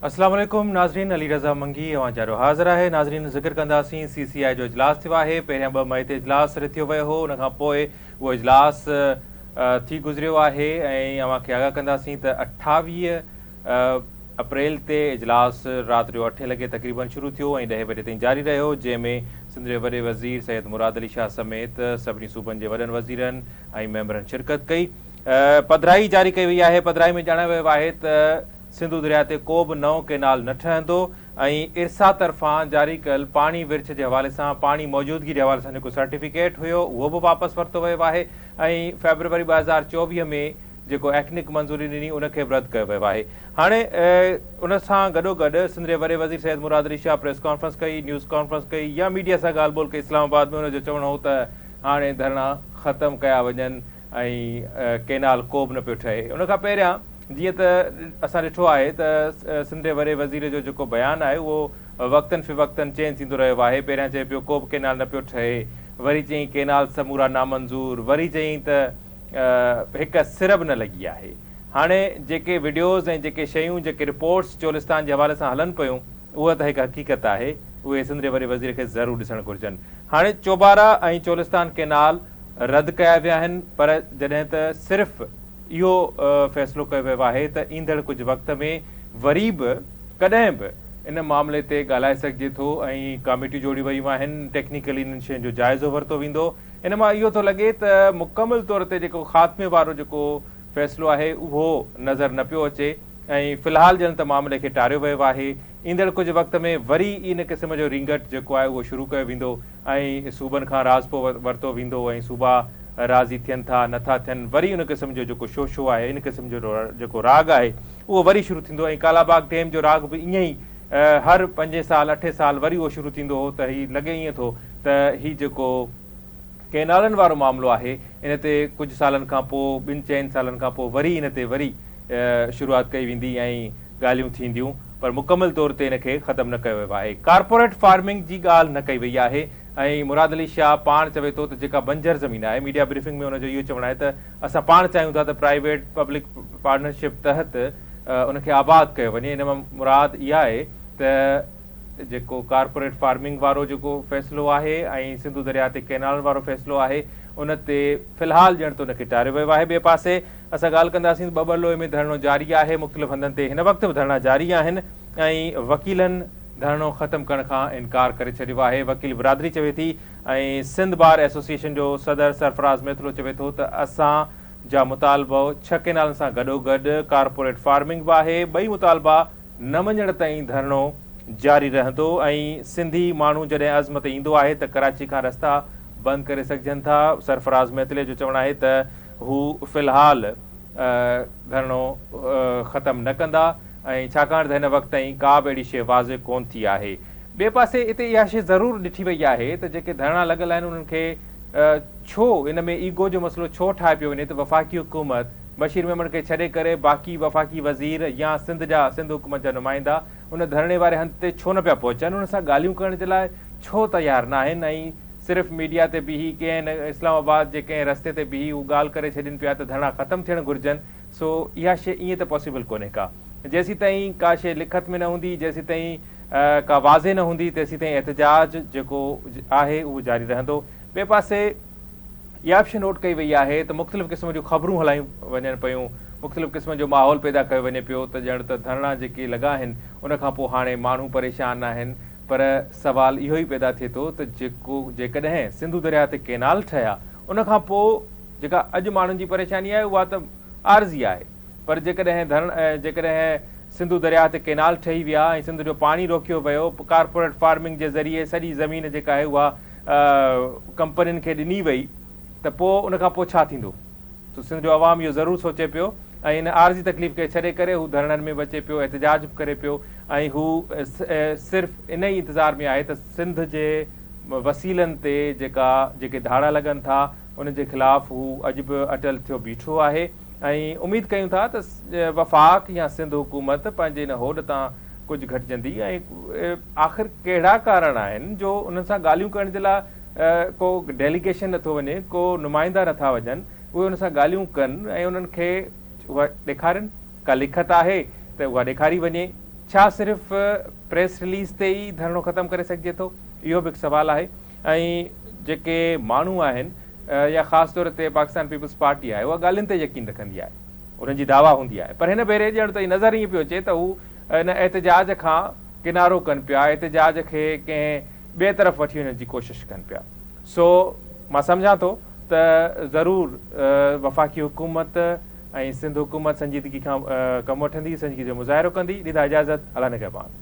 السلام عليڪم ناظرين علي رضا منگي اوهان جارو حاضر آهي ناظرين ذڪر ڪنداسين سي سي آء جو اجلاس ٿيو آهي پهريان ٻه مئي تي اجلاس رٿيو ويو هو ان کان پوء اهو اجلاس ٿي گذريو آهي ۽ اوهان کي آگاهه ڪنداسين ته اٺاويهه اپريل تي اجلاس رات جو اٺين لڳي تقريبن شروع ٿيو ۽ ڏهين بجي تائين جاري رهيو جنهن ۾ سنڌ جي وڏي وزير سيد مراد علي شاهه سميت سڀني صوبن جي وڏن وزيرن ۽ ميمبرن شرڪت ڪئي پڌرائي جاري ڪئي وئي آهي پڌرائي ۾ ڄاڻايو ويو آهي ته سنڌو درياء تي ڪو به نئون ڪينال نه ٺهندو ۽ ارسا طرفان جاري ڪيل پاڻي ورڇ جي حوالي سان پاڻي موجودگي جي حوالي سان جيڪو سرٽيفڪيٽ هيو اهو به واپس ورتو ويو آهي ۽ فيبروري ٻه هزار چوويهه ۾ جيڪو ايڪنڪ منظوري ڏني ان کي به رد ڪيو ويو آهي هاڻي ان سان گڏو گڏ سنڌ جي وڏي وزير سيد مراد علي شاهه پريس ڪانفرنس ڪئي نيوز ڪانفرنس ڪئي يا ميڊيا سان ڳالهه ٻولهه ڪئي اسلام آباد ۾ ان جو چوڻ هو ته هاڻي ڌرڻا ختم ڪيا وڃن ۽ ڪينال ڪو به نه پيو ٺهي ان کان پهريان جيئن ته اسان ڏٺو آهي ته سنڌ جي وڏي وزير جو جيڪو بيان آهي اهو وقتن فوقتن چينج ٿيندو رهيو آهي پهريان چئي پيو ڪو به ڪينال نه پيو ٺهي وري چئين ڪينال سمورا نامنظور وري چئين ته هڪ سر به نه لڳي آهي هاڻي جيڪي وڊيوز ۽ جيڪي شيون جيڪي رپورٽس چولستان جي حوالي سان هلن پيون اها ته هڪ حقيقت آهي، اهي سنڌ جي وڏي وزير کي ضرور ڏسڻ گهرجن. هاڻي چوبارا ۽ چولستان ڪئنال رد ڪيا ويا آهن پر جڏهن ته صرف اهو فيصلو ڪيو ويو آهي ته ايندڙ ڪجهه وقت ۾ وري به ڪڏهن به ان معاملي تي ڳالهائي سگهجي ٿو ۽ ڪاميٽيون جوڙيون ويون آهن، ٽيڪنيڪلي انهن شين جو جائزو ورتو ويندو، ان مان اهو ٿو لڳي ته مڪمل طور تي جيڪو خاتمي وارو جيڪو فيصلو آهي اهو نظر نه پيو اچي. ۽ في الحال ڄڻ ته معاملي کي ٽاريو ويو آهي. ايندڙ ڪجهه وقت ۾ وري ئي ان قسم جو رينگٽ جيڪو آهي اهو شروع ڪيو ويندو ۽ صوبن کان راضپو ورتو ويندو ۽ صوبا راضي ٿين ٿا نه ٿا ٿين وري ان قسم جو جيڪو شوشو آهي ان قسم جو جيڪو راڳ آهي اهو وري شروع ٿيندو ۽ ڪالاباغ ٽيم جو راڳ به ائين ئي هر پنجين سال اٺين سال وري اهو شروع ٿيندو هو ته هي لڳي ائين ٿو ته هي جيڪو ڪئنالن وارو معاملو آهي ان تي ڪجهه سالن کان پوء ٻن چئن سالن کان پوء وري ان تي وري شروعات ڪئي ويندي ۽ ڳالهيون ٿينديون پر مڪمل طور تي ان کي ختم نه ڪيو ويو آهي ڪارپوريٽ فارمنگ جي ڳالهه نه ڪئي وئي آهي ۽ مراد علي شاهه پاڻ چوي ٿو ته جيڪا بنجر زمين آهي ميڊيا بريفنگ ۾ ان جو اهو چوڻ آهي ته اسان پاڻ چاهيون ٿا ته پرائيويٽ پبلڪ پارٽنرشپ تحت ان کي آباد ڪيو وڃي ان مان مراد اها آهي ته جيڪو ڪارپوريٽ فارمنگ وارو جيڪو فيصلو آهي ۽ سنڌو درياء تي ڪينالن وارو فيصلو آهي ان تي في الحال ڄڻ ته ان کي ٽاريو ويو آهي ٻئي پاسي اسان ڳالهه ڪنداسين ته ٻٻر لوئي ۾ ڌرڻو جاري آهي مختلف هنڌن تي هن وقت به ڌرڻا جاري آهن ۽ وڪيلن ڌرڻو ختم ڪرڻ کان انڪار ڪري ڇڏيو آهي وڪيل برادري چوي ٿي ۽ سنڌ بار ايسوسيئيشن جو صدر سرفراز ميتلو چوي ٿو ته اسان جا مطالبو ڇهه ڪينالن سان گڏوگڏ ڪارپوريٽ فارمنگ به آهي ٻئي مطالبا نه مڃڻ تائين ڌرڻو جاري رهندو ۽ سنڌي ماڻهو جڏهن عزم تي ايندو آهي ته ڪراچي کان رستا بند ڪري سگهجن ٿا، سرفراز ميتلي جو چوڻ آهي ته هو في الحال ڌرڻو ختم نه ڪندا ۽ ڇاڪاڻ ته هن وقت تائين ڪا به اهڙي شيء واضح ڪونه ٿي آهي. ٻئي پاسي اتي اها شيء ضرور ڏٺي وئي آهي ته جيڪي ڌرڻا لڳل آهن انهن کي ڇو ان ۾ ايگو جو مسئلو ڇو ٺاهي پيو وڃي ته وفاقي حڪومت بشير ميمڻ کي ڇڏي ڪري باقي وفاقي وزير يا سنڌ جا سنڌ حڪومت جا نمائندا ان ڌرڻي واري هنڌ تي ڇو نه پيا پهچن انهن سان ڳالهيون ڪرڻ جي لاء ڇو تيار ناهن ۽ صرف ميڊيا تي بيهي ڪين اسلام آباد جي ڪنهن رستي تي بيهي هو ڳالهه ڪري ڇڏين پيا ته ڌرڻا ختم ٿيڻ گهرجن سو اها شي ائين ته پاسيبل ڪونهي ڪا جيسيتائين ڪا شي لکت ۾ نه هوندي جيسيتائين ڪا واضح نه هوندي تيسيتائين احتجاج جيڪو آهي اهو جاري رهندو ٻئي پاسي اها به شيء نوٽ ڪئي وئي آهي ته مختلف قسم جون خبرون هلايون وڃن پيون، مختلف قسم جو ماحول پيدا ڪيو وڃي پيو ته ڄڻ ته ڌرڻا جيڪي لڳا آهن ان کان پوء هاڻي ماڻهو پريشان ناهن پر سوال اهو ئي پيدا ٿئي ٿو ته جيڪو جيڪڏهن سنڌو درياهه تي ڪينال ٺهيا ان کان پوء جيڪا اڄ ماڻهن جي پريشاني آهي اها ته عارضي آهي پر جيڪڏهن ڌرڻ جيڪڏهن سنڌو درياهه تي ڪينال ٺهي ويا ۽ سنڌ جو پاڻي روڪيو ويو ڪارپوريٽ فارمنگ جي ذريعي سڄي زمين جيڪا آهي اها ڪمپنين کي ڏني وئي ته پوء ان کان پوء ڇا ٿيندو؟ سو سنڌ جو عوام اهو ضرور سوچي پيو ۽ ان عارضي تڪليف کي ڇڏي ڪري هو ڌرڻن ۾ به اچي پيو، احتجاج به ڪري پيو ۽ هو صرف ان ئي انتظار ۾ آهي ته سنڌ جي وسيلن تي جيڪا جيڪي ڌاڙا لڳن ٿا، ان جي خلاف هو اڄ به اٽل ٿيو بيٺو آهي. ۽ اميد ڪيون ٿا ته وفاق يا سنڌ حڪومت پنهنجي ان هوڏ تان ڪجهه گهٽجندي ۽ آخر ڪهڙا ڪارڻ آهن جو انهن سان ڳالهيون ڪرڻ جي لاء ڪو ڊيليگيشن نٿو وڃي ڪو نمائندا نٿا وڃن اهي انهن سان ڳالهيون ڪن ۽ انهن کي اها ڏيکارين ڪا لکت آهي ته اها ڏيکاري وڃي ڇا صرف پريس رليز تي ئي ڌرڻو ختم ڪري سگهجي ٿو اهو به هڪ سوال آهي. ۽ جيڪي ماڻهو آهن يا خاص طور تي پاڪستان پيپلز پارٽي آهي اها ڳالهين تي يقين رکندي آهي انهن جي دعويٰ هوندي آهي پر هن ڀيري ڄڻ ته نظر ائين پيو اچي ته هو ان احتجاج کان ڪنارو ڪن پيا احتجاج کي ڪنهن ٻئي طرف وٺي وڃڻ جي ڪوشش ڪن پيا سو مان سمجهان ٿو ته ضرور وفاقي حڪومت ۽ سنڌ حڪومت سنجيدگي کان ڪم وٺندي سنجيدگي جو مظاهرو ڪندي لذا اجازت الله نگهبان